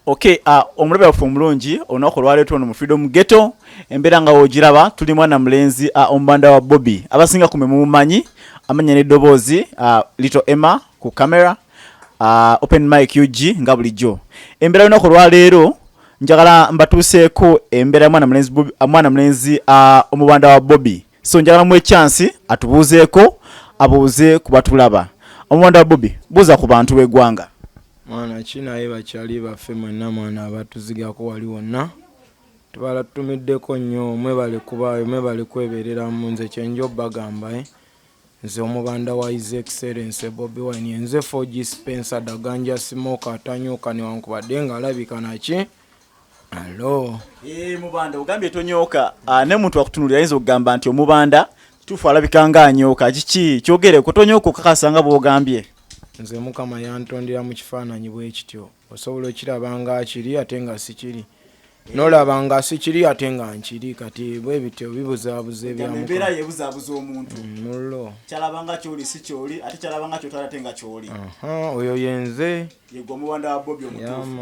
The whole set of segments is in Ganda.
ok uh, omulabe waffe omulungi olunaku olwaleeta ono mu freedom ghetto embeera nga wogiraba tuli mwana mulenzi uh, omubanda wa bobi abasinga kume mumumanyi amanya neddoboozi uh, little emma ku camera uh, open mike ug nga bulijjo embeera olunaku olwaleero njagala mbatuuseeko embeera mwana mulenzi, uh, mwana mulenzi uh, omubanda wa bobi so njagala mu ekyansi atubuuzeeko abuuze ku batulaba omulonda wa bobi buuza ku bantu b'eggwanga mwana ki naye bakyali baffe mwenna mwana abatuzigako wali wonna tubala tutumiddeko nnyo mwebale kubaayo mwebale kwebereramu nze kyenjo bagamba eh? nze omubanda wa his excellence bobi wine yenze fogi spencer daganja simoka atanyuka newankubadde nga alabika naki Hello. Eh, mubanda ogambye tonyoka ah, ne muntu akutunulira ayinza okugamba nti omubanda tufu alabika nga anyoka kiki kyogere kutonyoka okakasa nga bwogambye nze mukama yantondera mu kifaananyi bwe kityo osobola okiraba nga akiri ate nga sikiri nolaba nga sikiri ate nga nkiri kati bwe bityo bibuzaabuza ebyambeera yebuzaabuza omuntu mm, mullo kyalaba nga kyoli si kyoli ate kyalaba nga kyotala ate nga kyoli oyo yenze yegwe omubanda wa bobi omutuufu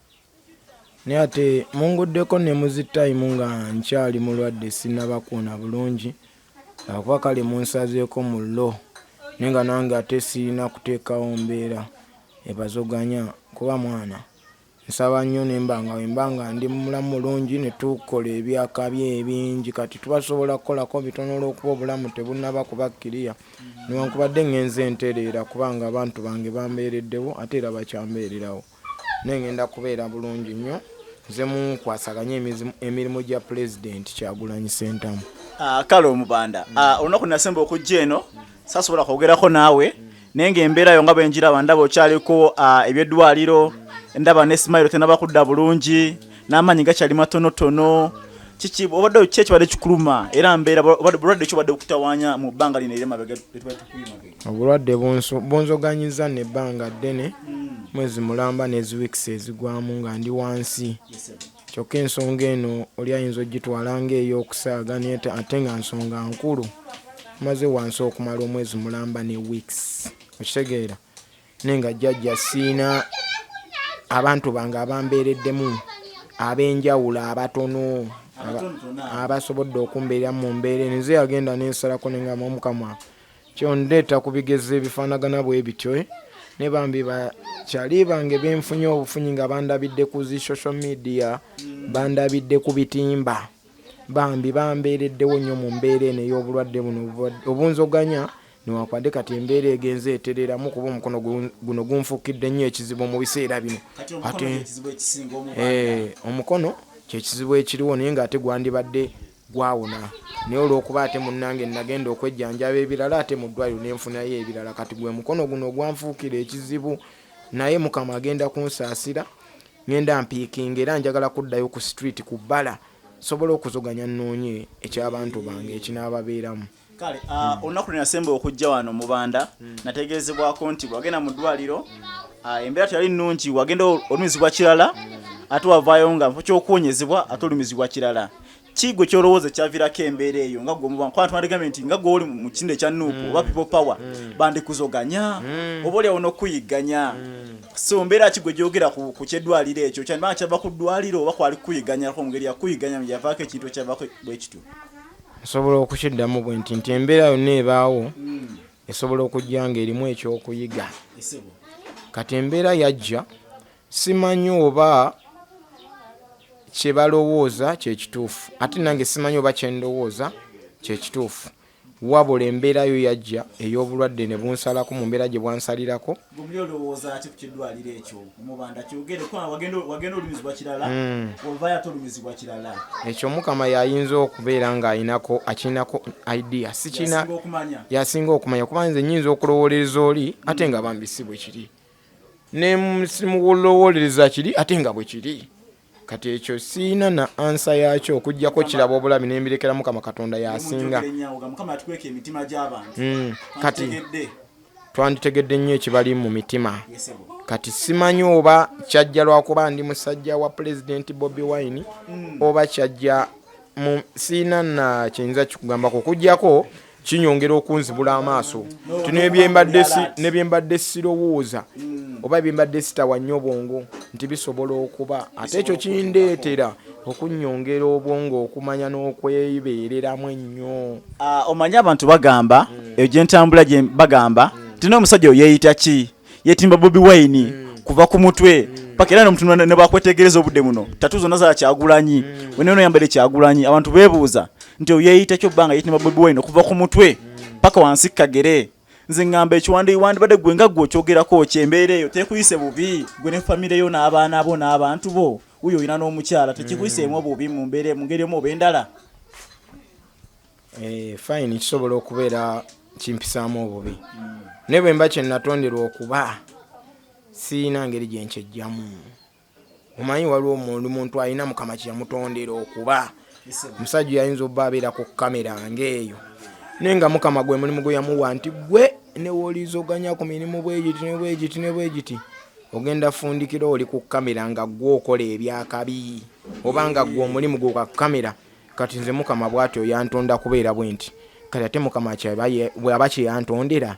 naye ate munguddeko ne muzi time nga nkyali mulwadde sinabakuuna bulungi akuba kale munsazeeko mu lo naye nga nange ate sirina kuteekawo mbeera ebazoganya kuba mwana nsaba nnyo nemba nga wemba nga ndi mulamu mulungi ne tukola ebyakaby ebingi kati tuba tusobola kukolako bitono olwokuba obulamu tebunaba kuba kiriya newankubadde ngenze entereera kubanga abantu bange bambeereddewo ate era bakyambeererawo naye ngenda kubeera bulungi nnyo nze munkwasaganye emirimu gya pulezidenti kyagulanyi sentamu ah, kale omubanda ah, olunaku nasemba okujja eno sasobola kwogerako naawe naye nga embeera yo nga bwenjiraba ndaba okyaliko ah, ebyeddwaliro ndaba ne simayiro tenaba kudda bulungi n'amaanyi gakyali matonotono kiki obadde ki ekibadde kikuluma era mbeera bulwadde ki obadde okutawanya mu bbanga lino era mabega obulwadde bunzoganyiza nebbanga ddene hmm. mwezi mulamba neziwikisi ezigwamu nga ndi wansi kyokka ensonga eno oli ayinza ogitwala ngaeyokusaaga naye ate nga nsonga nkulu maze wansi okumala omwezi mulamba ne weeks okitegeera naye nga jjajja siina abantu bange abambeereddemu ab'enjawulo abatono abasobodde okumbeera mu mbeera eno nze yagenda nensalako nengamba omukama kyondeeta ku bigezo ebifaanagana bwe bityo eh? ne bambi bakyali bange benfunye obufunyi nga bandabidde ku zi social media bandabidde ku bitimba bambi bambeereddewo nnyo mu mbeera eno ey'obulwadde buno obunzoganya newankubadde kati embeera egenze etereramu kuba omukono guno gunfukidde nnyo ekizibu mu biseera bino ate eh, omukono kyekizibu ekiriwo naye nga ate gwandibadde gwawona naye olwokuba ate munange nagenda okwejjanjaba ebirala ate mu ddwaliro nenfunayo ebirala kati gwe mukono guno ogwanfuukira ekizibu naye mukama agenda kunsaasira ngenda mpiikinga era njagala kuddayo ku street ku bbala sobola okuzoganya nnoonye eky'abantu bange ekinaababeeramu kale ah, olunaku lwe nasemba okujja wano mubanda hmm. nategeezebwako nti wagenda mu ddwaliro hmm. ah, embeera teyali nnungi wagenda olumizibwa kirala hmm. ate wavaayo nga nfo kyokuwonyezebwa ate olumizibwa kirala kigwe kyolowooza ekyavirako embeera eyo nga gwemubankwantwaligambe nti nga gweoli mu kindo ekya nuupu oba people power bandikuzoganya oba oliawo nokuyigganya so mbeera ki gwe gyogera ku kyeddwaliro ekyo kyandibanga kyava ku ddwaliro oba kwali kukuyiganyako mu ngeri yakuyiganya yavaako ekintu ekyavako bwekityo nsobola okukiddamu bwe nti nti embeera yonna ebaawo esobola okujja nga erimu ekyokuyiga kati embeera yajja simanyi oba kyebalowooza kyekituufu ate nange simanyi oba kyendowooza kyekituufu wabula embeera yo yajja ey'obulwadde ne bunsalaku mu mbeera gye bwansalirako gumuli olowooza ki ku kiddwaliro ekyo omubanda kyogere kubanga wagenda olumizibwa kirala hmm. ovayo ate olumizibwa kirala ekyo mukama yayinza okubeera ng'alinako akirinako idea sikirina yasinga okumanya kuba nze nyinza okulowolereza oli ate nga bambi si bwe kiri nemulowolereza kiri ate nga bwe kiri kati ekyo siina na ansa yakyo okujjako kiraba obulabi nembirekera mukama katonda yasinga hmm, kati twanditegedde nnyo ekibali mu mitima kati simanyi oba kyajja lwakuba ndi musajja wa pulezidenti bobi wine hmm. oba kyajja siina na kiyinza kikugambako okujjako kinyongera okunzibula amaaso ti nebyembadde sirowooza oba ebyembadde sitawa nnyo bwongo nti bisobola okuba ate ekyo kindeetera okunyongera obwongo okumanya n'okwebeereramu ennyo ah, omanyi abantu bagamba hmm. eyo gyentambula bagamba hmm. ti n'omusajja oyeeyita ki yetimba bobi wine mm. kuva ku mutwe mm. paka era nomutu nebakwetegereza obudde muno mm. tatu zonna za kyagulanyi mm. wena ono yambadde kyagulanyi abantu bebuuza nti oyeyita kyo bbanga yetimba bobi wine okuva ku mutwe mm. paka wansi kagere nze ngamba ekiwandiwandibadde gwe nga gwe okyogerako ki embeera eyo tekuyise bubi gwe ne famire yo n'abaana bo n'abantu bo uyo olina n'omukyala tekikuyiseemu obubi mu mbeera mu ngeri omu oba endala Eh, fayini kisobola okubeera kimpisaamu obubi naye bwe mba kyenatonderwa okuba siyina ngeri gye nkyejjamu omanyi waliwo omuntu muntu alina mukama kyeyamutondera okuba omusajja yayinza obba abeera ku kamera ngaeyo naye nga mukama gwe mulimu gwe yamuwa nti gwe newolizoganya ku mirimu bwegiti nebwegiti nebwegiti ogenda fundikira oli ku kamera nga gwe okola ebyakabi oba nga gwe omulimu gwe kwa kamera kati nze mukama bwatyo yantonda kubeera bwenti kati ate mukama bwaba kyeyantondera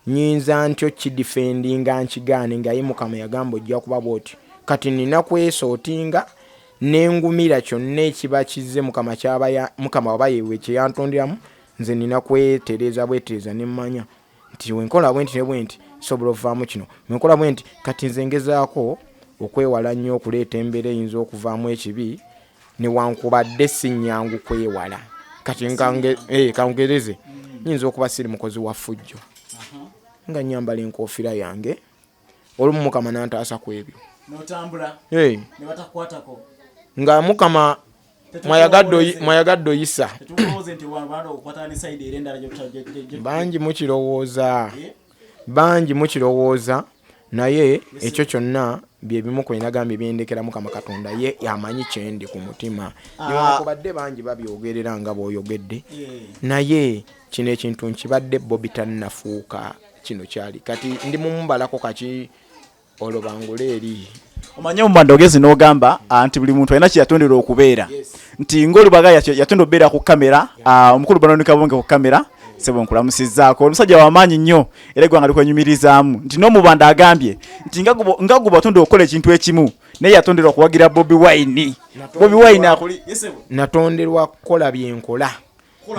nyinza ntyo kidifendinga nkigaane ngaye mukama yagamba ojja kuba bwotyo kati nina kwesootinga nengumira kyonna ekiba kizze mukama kyaba mukama waba yewe kyeyantonderamu nze nina kwetereeza bwetereeza nemmanya nti wenkola bwenti ne bwenti nsobola okuvaamu kino wenkola bwenti kati nze ngezaako okwewala nnyo okuleeta embeera eyinza okuvaamu ekibi newankubadde si nnyangu kwewala kati eh, kangereze nyinza okuba siri mukozi wa fujjo nga nyambala enkoofira yange olumu mukama nantaasa ku ebyo nga mukama mwayagadde oyisa bangi mukirowooza eh? bangi mukirowooza naye ekyo kyonna byebimu kwenagambye byendekera mukama katonda ye amanyi kyendi ku mutima ah. newankubadde bangi babyogerera nga bwoyogedde eh. naye kino ekintu nkibadde bobi tannafuuka kino kyali kati ndi mumubalako kaki olwo bangule eri omanye omubanda ogezi nogamba ah, nti buli muntu alina kyeyatondera okubeera nti ngaolubaga yatonda okubeera ku kamera ah, omukulu banonikabonge ku kamera sebo nkulamusizaako omusajja wamaanyi nnyo era egwanga likwenyumirizaamu nti nomubanda agambye nti nga guba atonda okukola ekintu ekimu naye yatondera okuwagira bobi wine bobi wine akuli natonderwa kukola byenkola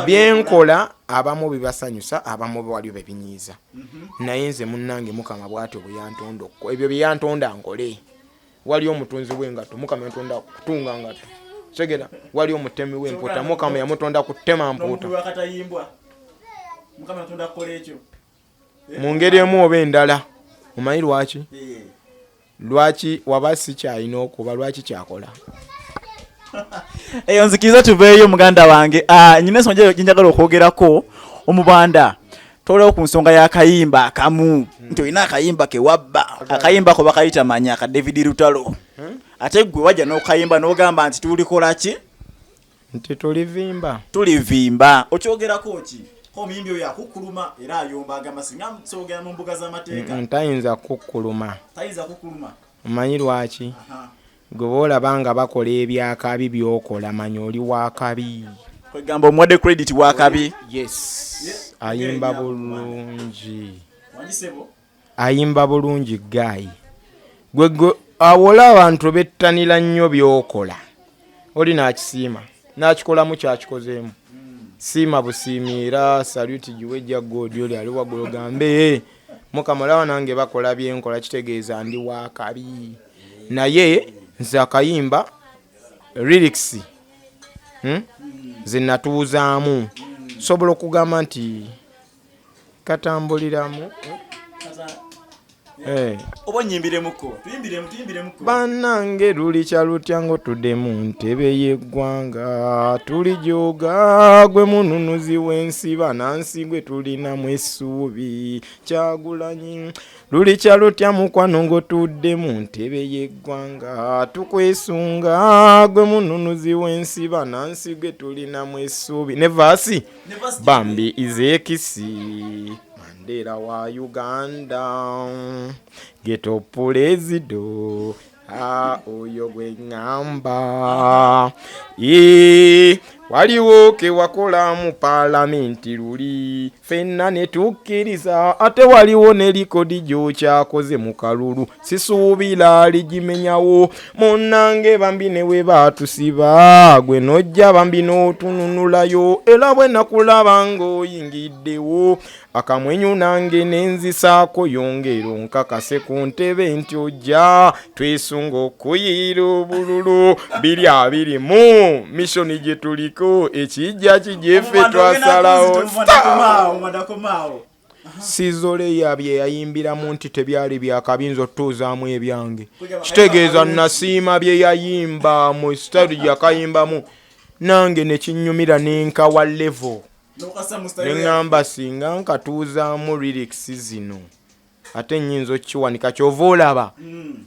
byenkola abamu bibasanyusa abamu waliwo bebinyiiza mhm. naye nze munange mukama bwatyo bweyantonda okko ebyo byeyantonda nkole waliyo omutunzi wengato mukama yantonda kutunga ngato segera waliyo omutemi wemputa mukama yamutonda kutema mputa mu ngeri emu oba endala omanyi lwaki lwaki waba si kyalina okuba lwaki kyakola eyo nzikiriza tuveeyo muganda wange ah, nyina ensonga gyenjagala okwogerako omubanda tolewo ku nsonga y'akayimba akamu nti olina akayimba kewabba akayimba ko bakayita manya ka david lutalo hmm? ate gwe wajja n'okayimba n'ogamba nti tulikolaki nti tulivimba tulivimba okyogerako ki omuyimbi oyo akukkuluma era ayomba agamba singa soogera mu mbuga z'amateeka ntayinza kukkuluma tayinza kukkuluma omanyi lwaki gwe boolaba nga bakola ebyakabi byokola manya oli wakabi kwegamba omuwadde credit wakabi yes ayimba bulungi ayimba bulungi guy gwe gwe awola abantu bettanira nnyo byokola oli nakisiima nakikolamu kyakikozeemu siima busiimi era saluti giwe ejja god oli ali waggulu gambe eh, mukama olaba nange bakola byenkola kitegeeza ndi wakabi naye nze akayimba lyrics hmm? zinatuuzaamu sobola okugamba nti katambuliramu eh. oba nyimbiremuko bannange lulikya lutya ng'otudde mu ntebe y'eggwanga tulijoga gwe mununuzi w'ensi banansi gwe tulinamu essuubi kyagulanyi lulikya lutya mukwano ng'otudde mu ntebe y'eggwanga tukwesunga gwe mununuzi w'ensi banansi gwe tulinamu essuubi ne vaasi bambi izekisi mandera wa uganda geto pulezido a oyo gwe ŋŋamba ee waliwo ke wakola mu palamenti luli fenna ne tukkiriza ate waliwo ne likodi gy'okyakoze mu kalulu sisuubira ligimenyawo munnange bambi ne we baatusiba gwe nojja bambi n'otununulayo era bwe nakulaba ng'oyingiddewo akamwenyu nange nenzisaako yongero nkakase ku ntebe nti ojja twesunga okuyiira obululu biri abiri mu mishoni gye tuliko ekijja kijefe twasalawo Sizoleya bye yayimbiramu nti tebyali bya kabi nze otutuuzaamu ebyange kitegeeza nasiima bye yayimba mu sitayiro gye yakayimbamu nange ne kinnyumira ne nkawa levo ne ŋŋamba singa nkatuuzaamu lirikisi zino ate nnyinza okukiwanika kyova olaba mm.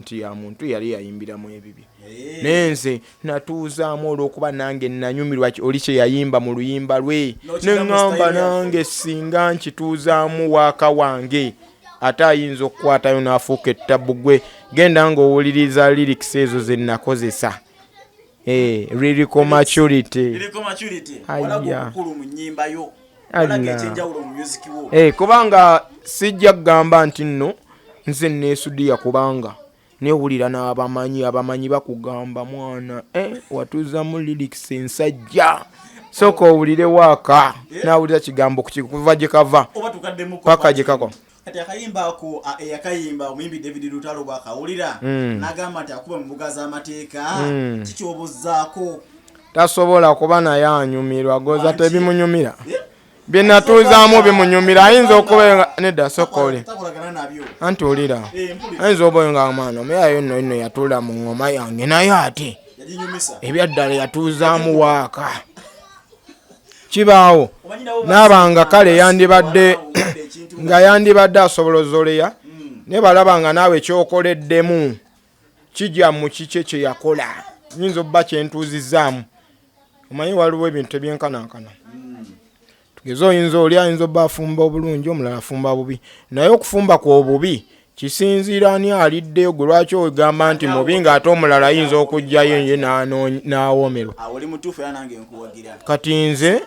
nti ya muntu yali yayimbiramu ebibye eh. naye nze natuuzaamu olwokuba nange nanyumirwa oli kye yayimba mu luyimba lwe neŋŋamba nange singa nkituuzaamu waaka wange ate ayinza okukwatayo n'afuuka ettabu gwe genda ng'owuliriza lirikisi ezo ze nakozesa Eh, lyrical maturity lyrical maturity walaga kulu munyimba yo walaga ekyenjawulo mu music wo eh kubanga sijja kugamba nti nno nze nesudiya kubanga newulira n'abamanyi abamanyi bakugamba mwana eh watuzamu lyrics ensajja soka owulire waaka eh? nawulira kigambo kuva gyekava paka gyekako kati akayimba ako eyakayimba omuyimbi david lutalo bwakawulira mm. nagamba nti akuba mubuga z'amateeka mm. kikyobuzaako tasobola kuba naye anyumirwa goza tebimunyumira eh? byenatuuzaamu bimunyumira ayinza okuba nedda soka oli anti olira eh, ayinza obayo nga mwana omeyayo nno ino yatuula mu ngoma yange naye ate ebyaddala yatuuzaamu waaka kibaawo naabanga kale yandibadde nga yandibadde asobola ozoleya hmm. naye balaba nga naawe kyokoleddemu kijja mu kikye kye yakola nyinza obba kyentuuzizaamu omanyi waliwo ebintu ebyenkanankana hmm. tugeze oyinza oli ayinza obba afumba obulungi omulala afumba bubi naye okufumba kwobubi kisinziira ani aliddeyo gwe lwaki ogamba nti mubi nga ate omulala ayinza okujjayo ye n'awoomerwa kati nze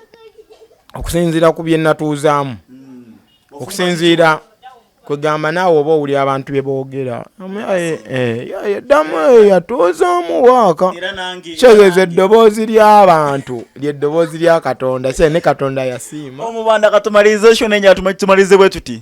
okusinziira ku bye natuuzaamu hmm. okusinziira kwegamba naawe oba owuli abantu bye boogera yaddamu eh, eh, yatuuzaamu waaka kitegeeza eddoboozi ly'abantu lyeddoboozi lya katonda se ne katonda yasiima omubanda katumaliriza ekyo nenye atumakitumalize bwe tuti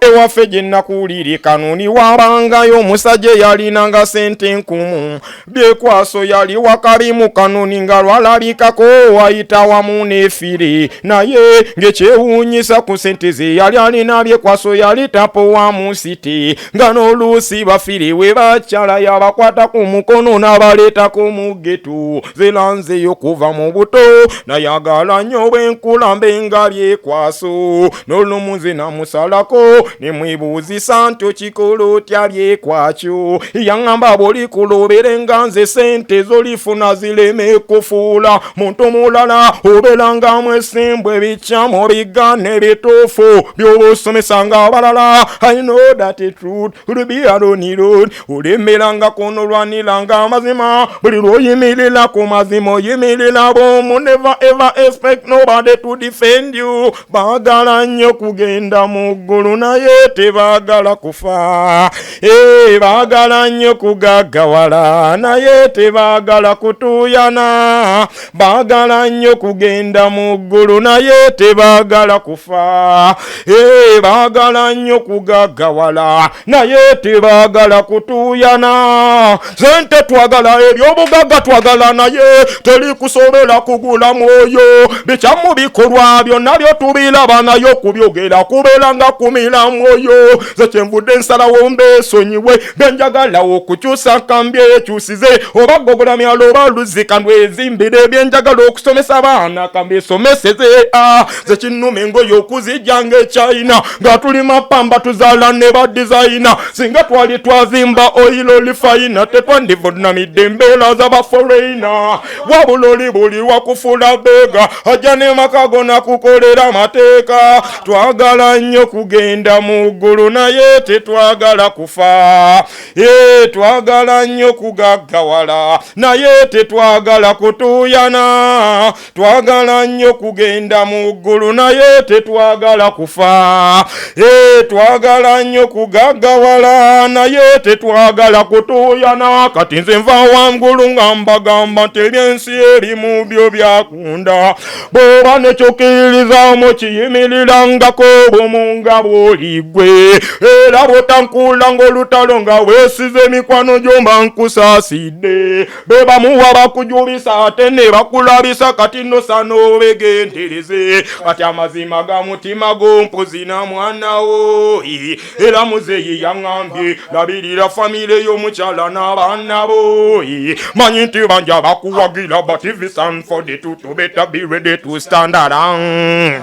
ewaffe gye nakuwulire kanuni wabangayo omusajja eyalinanga sente nkumu byekwaso yali wakalimu kanuni nga lwalabikako wayita wamu nefiri naye ngekyewunyisa ku sente ze yali alina byekwaso yali tapo wa musiti nga n'oluusi bafiri we bakyala yabakwata ku mukono n'abaleetako mu getu zelanzeyo kuva mu buto nayagala nnyo bwenkulambe nga byekwaso n'olumuzi namusalako nemwebuuzisa nti okikola otya byekwakyo yaŋŋamba bw'oli kulobere nga nze sente zolifuna zireme kufuula muntu mulala obeera nga mwesimbwa ebikyamu bigaana ebituufu by'oba osomesa nga abalala i know that truth will be alone road olembera nga kunolwanira nga amazima buli lw'oyimirira ku mazima oyimirira bwomu never ever expect nobody to defend you Baagala nnyo kugenda mu ggulu naye tebaagala kufa. Ee, baagala nnyo kugaggawala naye tebaagala kutuuyana. Baagala nnyo kugenda mu ggulu naye tebaagala kufa. Ee, baagala nnyo kugaggawala naye tebaagala kutuuyana. sente twagala ebyobugagga twagala naye teri kusobola kugula mwoyo bikyamu bikolwa byonna byo tubilaba nayo kubyogera kubeera nga kumira mwoyo ze kyenvudde ensalawo mbeesonyiwe byenjagala okukyusa nkambye ekyusize oba gogola myalo oba luzika ndwezimbire byenjagala okusomesa abaana kambesomeseze a ah, zekinnuma engoye okuzijja ngaekyayina nga tuli mapamba tuzaala ne ba dizayina singa twali twazimba oyilo oli fayina tetwandivunamidde embeera za baforeyina wabula oli buli wakufula beega ajja ne maka gona kukolera amateeka twagala nnyo kugenda mu ggulu naye tetwagala kufa e twagala nnyo kugaggawala naye tetwagala kutuuyana twagala nnyo kugenda mu ggulu naye tetwagala kufa e twagala nnyo kugaggawala naye tetwagala kutuuyana kati nze nva wangulu nga mbagamba nti ebyensi erimu byo byakunda bwoba nekyokiririzaamu kiyimirirangako obumu nga bwoligwe era bwotankuula ng'olutalo nga weesize emikwano gyomba nkusaasidde bebamuwa bakujubisa ate ne bakulabisa kati nosana obegendereze kati amazima ga mutima gompuzina mwanawo era muzeyi yaŋambye labirira famire y'omukyala n'abaana bo manyi nti banja bakuwagira but if it's unfolded to, to better be ready to stand around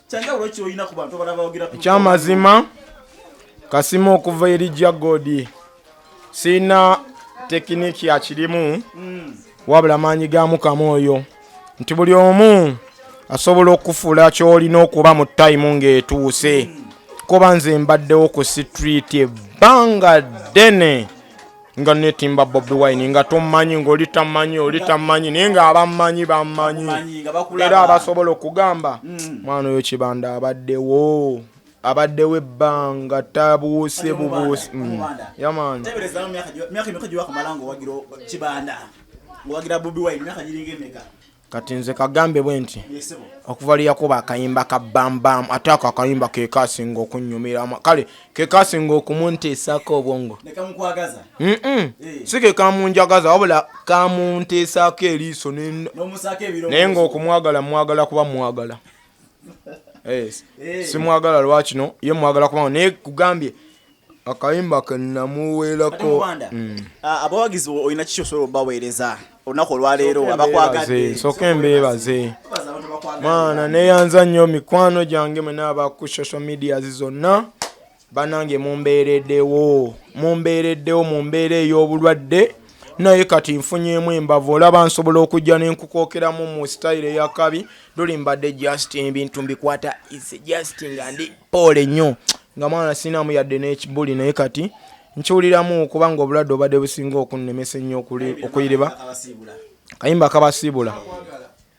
ekyamazima kasima okuva eri jagodi sirina tekiniki akirimu hmm. wabula maanyi ga mukama oyo nti buli omu asobola okufuula kyolina okuba mu tayimu ng'etuuse hmm. kuba nze mbaddewo ku sitriiti ebbanga ddene nga netimba bobi wine nga tommanyi ngaoli tammanyi oli tammanyi naye nga abammanyi bammanyi era abasobola okugamba mm. mwana oyo kibanda abaddewo abaddewo ebbanga tabuuse bubuuse mm. yamaani kati nze kagambe bwe nti okuva lyeyakuba akayimba ka bambam ate ako akayimba kekasinga okunyumira kale kekasinga okumunteesaako obwongo eh. si kekamunjagaza wabula kamunteesaako eriiso naye ngaokumwagala mwagala kuba mwagala yes. hey. simwagala lwakino ye mwagala kubanga naye kugambye akayimba kenamuweerako mm. ah, abawagizi olina kikyosobola obaweereza olunaku olwaleero abakwagadde soka embeebaze mwana neyanza nnyo mikwano gyange mwena aba ku social medias zonna banange mumbeeredewo mumbeereddewo mu mbeera ey'obulwadde naye kati nfunyeemu embavu olaba nsobola okujja nenkukokeramu mu sitayiro eyakabi luli mbadde just ebintu mbikwata is just nga ndi poole nnyo nga mwana sinamu yadde n'ekibuli naye kati nkiwuliramu kubanga obulwadde obadde businga okunnemesa ennyo okuyiriba kayimba kabasiibula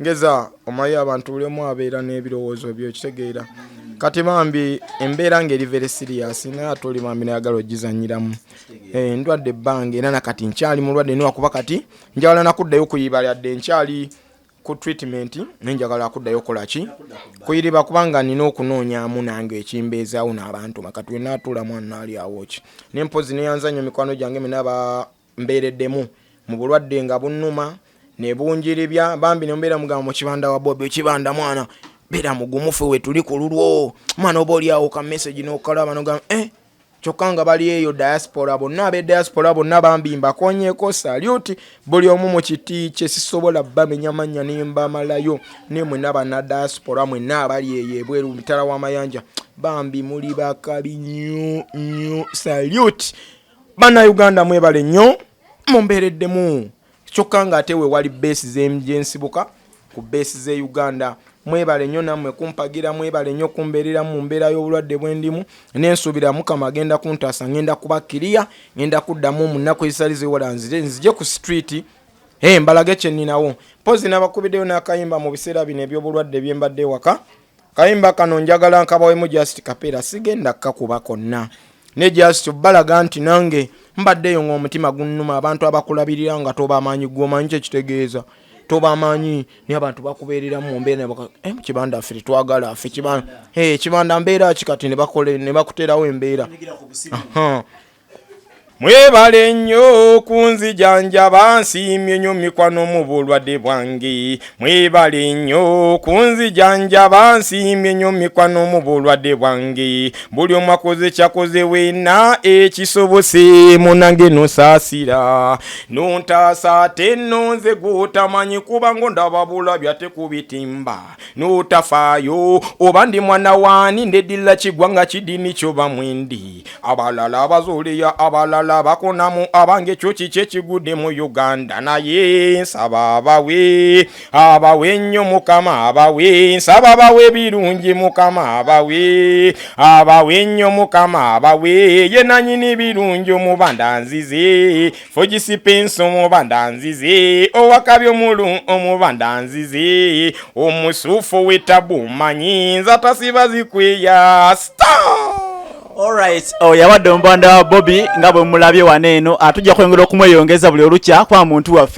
ngeza omayi abantu bulemu abeera n'ebirowoozo byo okitegeera kati bambi embeera nga eri very serious naye ate oli bambi nayagala ogizanyiramu eh, ndwadde ebbanga era nakati nkyali mulwadde niwakuba kati njagala nakuddayo kuyiba lyadde nkyali ku treatment naye njagala akuddayo okolaki kuyiriba kubanga nina okunoonyamu nange ekimbeezaawo n'abantu makati wenatuula mwana ali awoki nempozi neyanza nnyo mikwano gyange mina mbeereddemu mu bulwadde nga bunnuma ne bunjiribya bambi ne mbeera mugamba mu kibanda wa bobi ekibanda mwana beera mugumufu we tuli ku lulwo mwana oba oli awo ka message n'okalaba nogamba eh kyokka nga bali eyo diaspora bonna abe diaspora bonna bambi mbakonyeko saluti buli omu mu kiti kye sisobola bamenya mannya ne mbamalayo ne mwena bana diaspora mwena abali eyo ebweru mitala w'amayanja bambi muli bakabi nyo nyo saluti bana uganda mwebale nnyo mumbeereddemu kyokka nga ate wewali beesi gyensibuka ku beesi ze uganda mwebale nnyo nammwe kumpagira mwebale nnyo kumbeerera mu mbeera y'obulwadde bwendimu nensuubira mukama agenda kuntaasa ngenda kuba kiriya ngenda kuddamu mu nnaku ezitali ziwola nzire nzije ku streeti Hey, mbalage kye nninawo mpozi nabakubiddeyo n'akayimba mu biseera bino eby'obulwadde byembadde ewaka Kayimba kano njagala nkabawemu just kapera sigenda kakuba konna ne just obalaga nti nange mbadde eyo ng'omutima gunnuma abantu abakulabirira nga tobamaanyi gwomanyi kyekitegeeza tobamaanyi naye abantu bakubeerera mu mbeera eh, kibanda ffe tetwagala ffe kibanda eh, mbeera ki kati ne bakuterawo embeera mwebale nnyo kunzijanjaba nsiimye nnyo mikwano mu bulwadde bwange mwebale nnyo kunzijanjaba nsiimye nnyo mikwano mu bulwadde bwange buli omu akoze kyakoze wena ekisobose munange nosaasira nontaasa ate nonze gw'otamanyi kuba ng'ondaba bulabya tekubitimba notafaayo oba ndi mwana waani ndedilla kigwa nga kidini kyo bamwendi abalala abazuuliya abalala bakonamu abange ekyo kiki ekigudde mu uganda naye nsaba abawe abawe nnyo mukama abawe nsaba abawe birungi mukama abawe abawe nnyo mukama abawe ye nanyini birungi omubanda nzize fujisipinsi omubanda nzizi owakabi omulu omubanda nzizi omusufu witabu manyi nza tasiba zikwiya Alright, oh, yawadde omubanda wa bobi nga bwe mulabye wano eno atujja ah, kwengera okumweyongeza buli olukya kwa muntu waffe